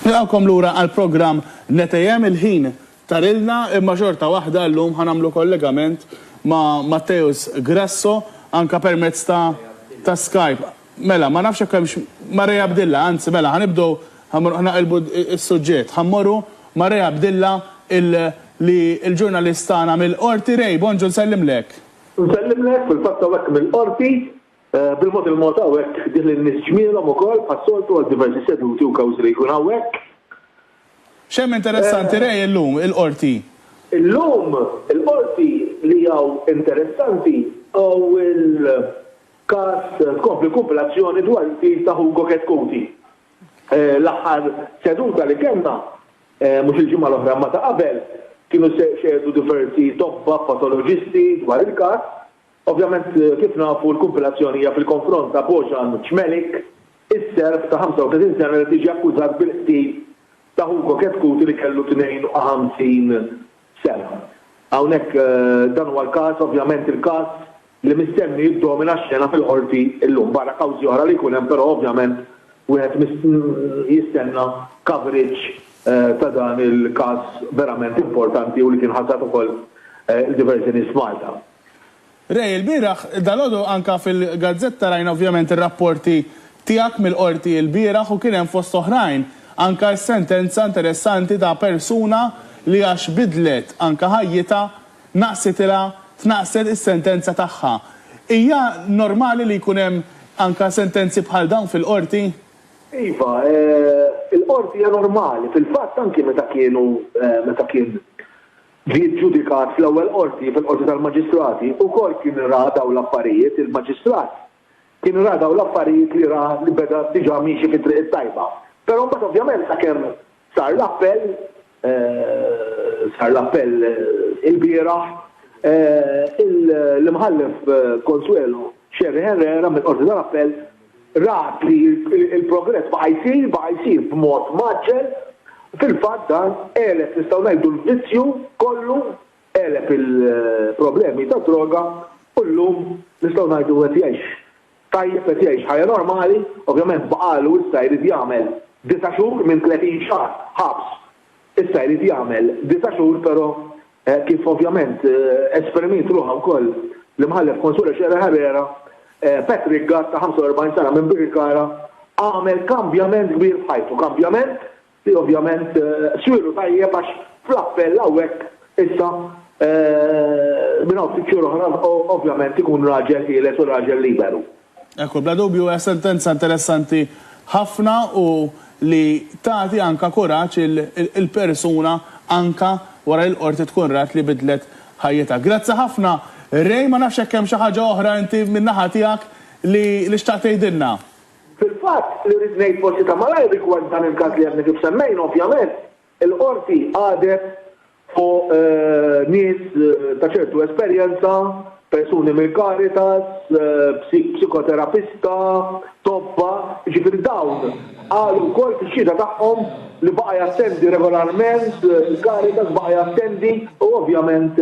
Nilqgħukom lura għall-programm Netejhem, il-ħin tarilna imma xorta waħda llum ħa nagħmlu kollegament ma' Matteus Grasso anke permezz ta' ta' Skype. Mela, ma nafx jekk hemmx Marea Abdilla, anzi mela ħa nibdew ħa ħa naqilbu s-suġġett. Ħa mmorru ma' Ray Abdilla il li l-ġurnalist tagħna mill-Qorti. Ray, bonġu nsellimlek. Nsellimlek, fil-fatt hawnhekk mill-Qorti. Bil-mod il-mod hawnhekk ġieli n-nies ġmielhom ukoll bħas-soltu għal diversi seduti u kawżi li jkun hawnhekk. X'hemm interessanti Ray illum il-Qorti? Illum il-Qorti li hawn interessanti hu l-każ tkompli kumpilazzjoni dwar il-qtil ta' Hugo Chetcuti. L-aħħar seduta li kellna, mhux il-ġimgħa l-oħra imma ta' qabel, kienu xehdu diversi tobba patoloġisti dwar il-każ Ovvjament, kif nafu, l-kumpilazzjoni hija fil-konfront ta' Bojan Cmelik, is-Serb ta' 35 sena li qed jiġi akkużat bil-qtil ta' Hugo Chetcuti li kellu 52 sena. Hawnhekk dan huwa l-każ, ovvjament il-każ li mistenni jiddomina x-xena fil-Qorti llum. Barra kawżi oħra li jkun hemm però ovvjament wieħed jistenna coverage ta' dan il-każ verament importanti u li kien ħasad ukoll il-diverżjoni f'Malta. Ray, ilbieraħ, dalgħodu anke fil-gazzetta rajna ovvjament ir-rapporti tiegħek mill-Qorti ilbieraħ u kien hemm fost oħrajn anke s-sentenza interessanti ta' persuna li għax bidlet anke ħajjitha naqsitilha tnaqqset is-sentenza tagħha. Hija normali li jkun hemm anke sentenzi bħal dawn fil-Qorti? Iva, il-Qorti hija normali. Fil-fatt anke meta kienu meta kien ġie ġġudikat fl-ewwel qorti, fil-Qorti tal-Maġistrati, ukoll kien ra dawn l-affarijiet, il-maġistrat kien ra dawn l-affarijiet li ra li beda diġà miexi fit-triq it-tajba. Però mbagħad ovvjament sakemm sar l-appell, sar l-appell ilbieraħ, l-Imħallef Consuelo Scerri Herrera mill-Qorti tal-Appell, rat li l-progress baqa' jsir, baqa' jsir b'mod mgħaġġel, fil-fatt dan għeleb, nistgħu ngħidu, l-vizzju kollu, għeleb il-problemi tad-droga u llum nistgħu ngħidu qed jgħix tajjeb, qed jgħix ħajja normali, ovvjament baqagħlu issa jrid jagħmel disa' xhur minn tletin xahar ħabs Issa jrid jagħmel disa' xhur però kif ovvjament esprimiet ruħha wkoll l-Imħallef Consuelo Scherer Herrera, Patrick Gatt ta' 45 sena minn Birkirkara għamel kambjament kbir f'ħajtu, kambjament li ovvjament swielu tajjeb għax fl-appell hawnhekk issa minn hawn ftit xhur oħra ovvjament ikun raġel ħieles u raġel liberu. Ekku, bla dubju hija sentenza interessanti ħafna u li tagħti anka kuraġġ il-persuna anka wara li l-Qorti tkun rat li bidlet ħajjitha. Grazzi ħafna Ray, ma nafx jekk hemm xi ħaġa oħra inti min-naħa tiegħek li li xtaqt tgħidilna. Fil-fatt, li rrid ngħid forsi ta' malajr rigward dan il-każ li għadni kif semmejna, ovvjament, il-Qorti qadet fuq nies ta' ċertu esperjenza, persuni mill-Caritas, psikoterapista, tobba, jiġifieri dawn qalu wkoll fix-xhieda tagħhom li baqa' jattendi regolarment il-Caritas, baqa' jattendi u ovvjament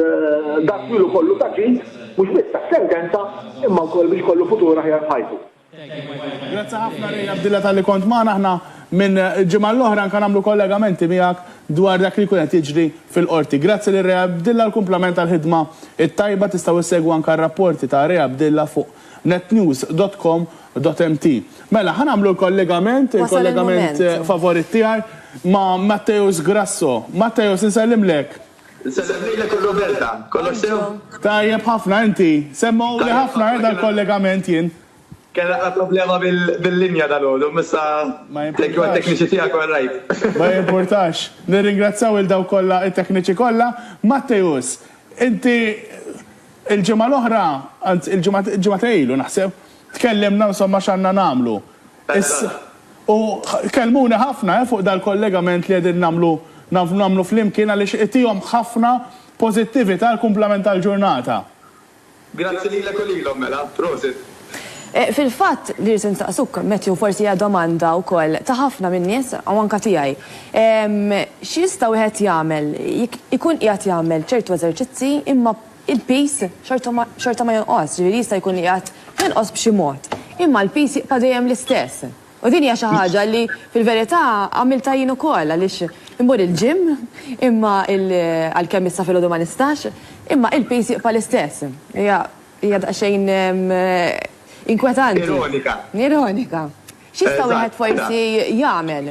dak ilu kollu ta' ġid mhux biss tas-sentenza imma wkoll biex ikollu futur aħjar f'ħajtu. Grazzi ħafna Ray Abdilla talli kont magħna. Aħna minn ġimgħa l-oħra anke nagħmlu kollegamenti miegħek dwar dak li jkun qed jiġri fil-Qorti. Grazzi lil Ray Abdilla għal kumplament tal-ħidma t-tajba. Tistgħu issegwu anke r-rapporti ta' Ray Abdilla fuq netnews dot com dot mt. Mela, ħa nagħmlu l-kollegament, il-kollegament favorit tiegħi ma' Matteus Grasso. Matteus, insellimlek. Insellem lilek u Roberta. Kollox sew? Tajjeb ħafna, inti? Semmewli ħafna eh dal-kollegament jien. Kien naqra problema bil-linja dalgħodu, imma issa thank you għat-tekniċi tiegħek u għar-raid. Ma jimpurtax. Nirringrazzjaw lil dawk kollha, it-tekniċi kollha. Matteus, inti l-ġimgħa l-oħra, anzi l-ġimgħa ġimgħa ta' ilu naħseb, tkellimna insomma x'għandna nagħmlu. Issa, u kellmuni ħafna fuq dal-kollegament li qegħdin nagħmlu nagħmlu flimkien għaliex itihom ħafna pożittività għall-kumplament tal-ġurnata. Grazzi lilek u lilhom mela. Prosit. Fil-fatt, li rrid insaqsuk, Matthew, forsi hija domanda wkoll ta' ħafna min-nies u anke tiegħi. X'jista' wieħed jagħmel jekk ikun qiegħed jagħmel ċertu eżerċizzi imma il-piż xorta ma jonqosx, jiġifieri jista' jkun li qiegħed jonqos b'xi mod, imma l-piż jibqa' dejjem l-istess. U din hija xi ħaġa li fil-verità għamiltha jien ukoll għaliex immur il-gym imma għalkemm issa filgħodu ma nistax, imma il-piż jibqa' l-istess. Hija hija daqsxejn inkwetanti. Ironika. Ironika. X'jista' wieħed forsi jagħmel?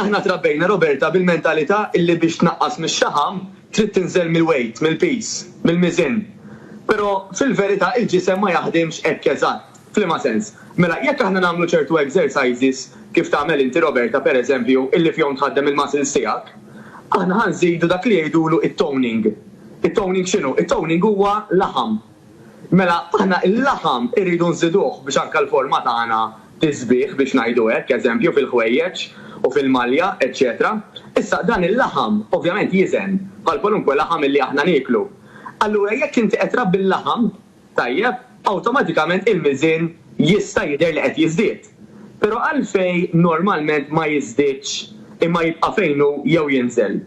Aħna trabbejna Roberta bil-mentalità illi biex tnaqqas mix-xaħam trid tinżel mill-weight, mill-piż, mill-miżien. Però fil-verità il-ġisem ma jaħdimx hekk eżatt. F'liema sens? Mela jekk aħna nagħmlu ċertu exercises, kif tagħmel inti Roberta per eżempju, illi fihom tħaddem il-muscles tiegħek, aħna ħa nżidu dak li jgħidulu t-toning. It-toning x'inhu? It-toning huwa laħam. Mela aħna il-laħam irridu nżiduh biex anke l-forma tagħna tiżbieh biex ngħidu hekk, eżempju fil-ħwejjeġ u fil-malja, eċċetera Issa dan il-laħam ovvjament jiżen bħal kwalunkwe laħam illi aħna nieklu. Allura jekk inti qed trabbi l-laħam, tajjeb, awtomatikament il-miżien jista' jidher li qed jiżdied. Però għalfejn normalment ma jiżdiedx imma jibqa' fejn hu jew jinżel?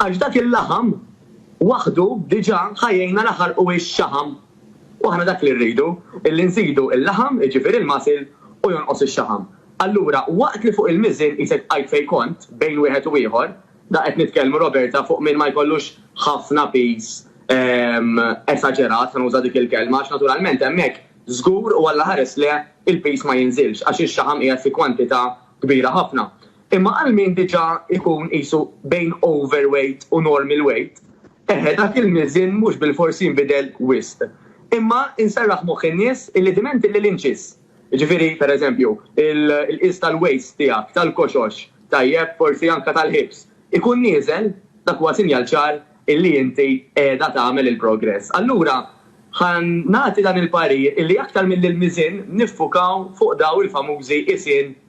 Għax dak il-laħam, Waħdu diġà ħa jgħinna naħarqu x-xaħam. U aħna dak li rridu, illi nżidu l-laħam, jiġifieri l-masil, u jonqos ix-xaħam. Allura, waqt li fuq il-miżien qisek tqajt fejn kont, bejn wieħed u ieħor, da qed nitkellmu, Roberta, fuq min ma jkollux ħafna piż esaġerat, ħa nuża dik il-kelma, għax naturalment hemmhekk żgur u Alla ħares le, il-piż ma jinżilx, għax ix-xaħam qiegħed fi kwantità kbira ħafna. Imma għal min diġà jkun qisu bejn overweight u normal weight, eħe dak il-miżien mhux bilfors jinbidel wisq. Imma inserraħ moħħ in-nies illi diment illi l-inċis, jiġifieri pereżempju l-qies tal-waist tiegħek, tal-koxox, tajjeb, forsi anke tal-hips, ikun nieżel, dak huwa sinjal ċar illi inti qiegħda tagħmel il-progress. Allura ħa nagħti dan il-parir illi aktar milli l-miżien niffukaw fuq dawn il-famużi qisien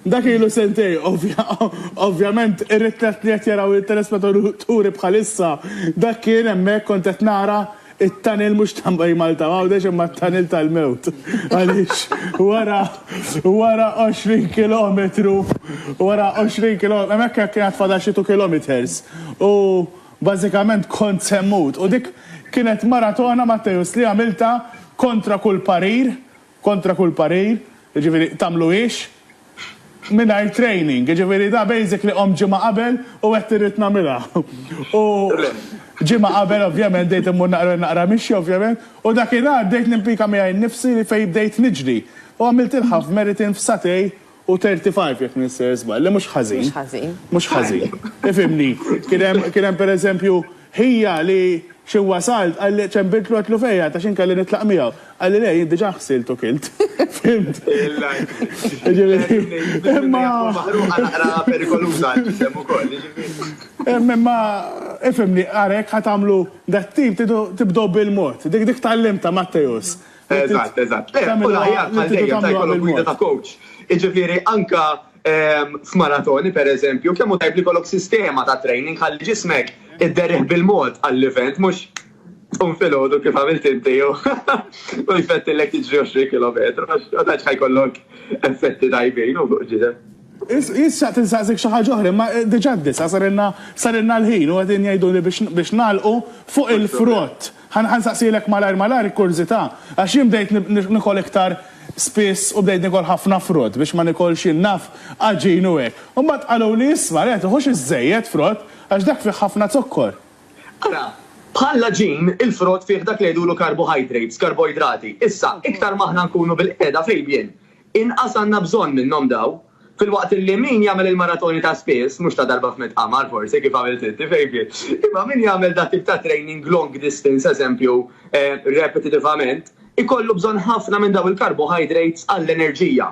Dak ilu sentejn, ovvjament ir-ritratt li qed jaraw it-telespetaturi bħalissa, dak kien hemmhekk kont qed nara t-tunnel mhux ta' Bay Malta u Għawdex imma t-tunnel tal-mewt għaliex wara wara 20 kilometru wara 20 kilometru hemmhekk kien għad fadal xi two kilometres u bażikament kont se mmut u dik kienet maratona Matteus li għamiltha kontra kull parir Kontra kull parir, jiġifieri tagħmluhiex mingħajr training, jiġifieri da basically qomt ġimgħa qabel u għedt irrid nagħmilha. U ġimgħa qabel ovvjament bdejt immur naqra naqra mixi ovvjament u dakinhar bdejt nimpika miegħi nnifsi li fejn bdejt niġri u għamiltilha f'meritin f'sagħtej U 35 jekk ninsejjer żball, li mhux ħażin. Mhux ħażin. Mhux ħażin. Ifhimni. Kien hemm kien hemm pereżempju ħija li xi wasalt qalli ċembiltlu għedtlu fejn qiegħed għax jien kelli nitlaq miegħu. Qalli le jien diġà ħsilt u kilt. Fhimt? Hemm imma ifhimni ara jekk ħa tagħmlu dat-tip tridu tibdew bil-mod. Dik dik tgħallimtha Matteus. Eżatt, eżatt. U l-aħjar bħal dejjem meta jkollok gwida ta' coach. Jiġifieri anke f'maratoni, pereżempju, kemm hu tajjeb li jkollok sistema ta' training ħalli ġismek idderrih bil-mod għall-event mhux tqum filgħodu kif għamilt inti u jfettilek tiġri 20 kilometru għax ma tantx ħa jkollok effetti tajbin fuq il-ġisem. Jien xtaqt insaqsik xi ħaġa oħra imma diġà d-disgħa sarilna l-ħin u qegħdin jgħiduli biex nagħlqu fuq il-frott. Ħa nsaqsielek malajr malajr kurżità, għax jien bdejt nikol iktar spiss u bdejt nikol ħafna frott biex ma nikolx jien naf għaġin u hekk. U mbagħad qaluli isma' le tiħux iżżejjed frott għax dak fih ħafna zokkor. Ara, bħall-għaġin, il-frott fih dak li jgħidulu carbohydrates, karboidrati. Issa, iktar ma aħna nkunu bil-qiegħda fil-bjien, inqas għandna bżonn minnhom dawn. Filwaqt li min jagħmel il-maratoni ta' spiss, mhux ta' darba f'mitt qamar forsi kif għamilt inti, Fabian, imma min jagħmel dat tip ta' training long distance eżempju repetitivament, ikollu bżonn ħafna minn dawn il-carbohydrates għall-enerġija.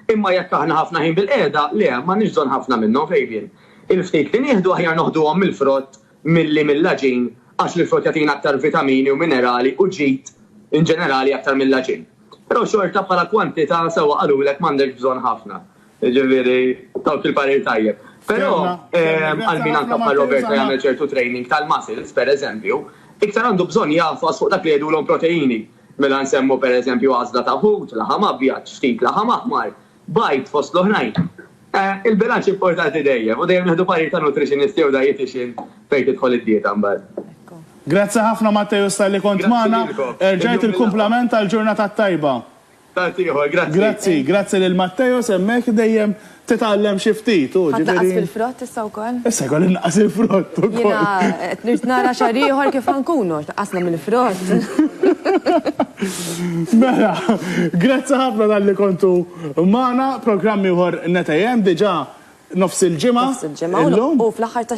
Imma jekk aħna ħafna ħin bilqiegħda, le, m'għandniex bżonn ħafna minnhom, Fabian. Il-ftit li nieħdu aħjar noħduhom mill-frott, milli mill-għaġin għax l-frott jagħtina aktar vitamini u minerali u ġid in ġenerali aktar mill-għaġin. Però xorta bħala kwantità sewwa qalulek m'għandekx bżonn ħafna. Jiġifieri tawk il-parir tajjeb. Però għal min anke bħal Roberta jagħmel ċertu training tal-muscles, pereżempju, iktar għandu bżonn jagħfas fuq dak li jgħidulhom proteini. Mela nsemmu pereżempju għażla ta' ħut, laħam abjad, ftit laħam aħmar, Bajd, fost l-oħrajn. Il-bilanċ importanti dejjem u dejjem nieħdu parir ta' nutritionist jew dietician fejn tidħol id-dieta mbagħad. Grazzi ħafna Matteus talli kont magħna. Erġajt il-kumplament tal-ġurnata t-tajba. Tant ieħor, grazzi. Grazzi, grazzi lil Matteus hemmhekk dejjem titgħallem xi ftit hu, ġifieri. Ħa tnaqqas fil-frott issa wkoll? Issa jkolli innaqqas il-frott ukoll. Jiena qed nirt nara xahar ieħor kif ħa nkunu, tnaqqasna mill-frott. Mela, grazzi ħafna talli kontu magħna, programm ieħor 9 AM diġà nofs il-ġimgħa illum. Nofs il-ġimgħa u fl-aħħar tax-xahar.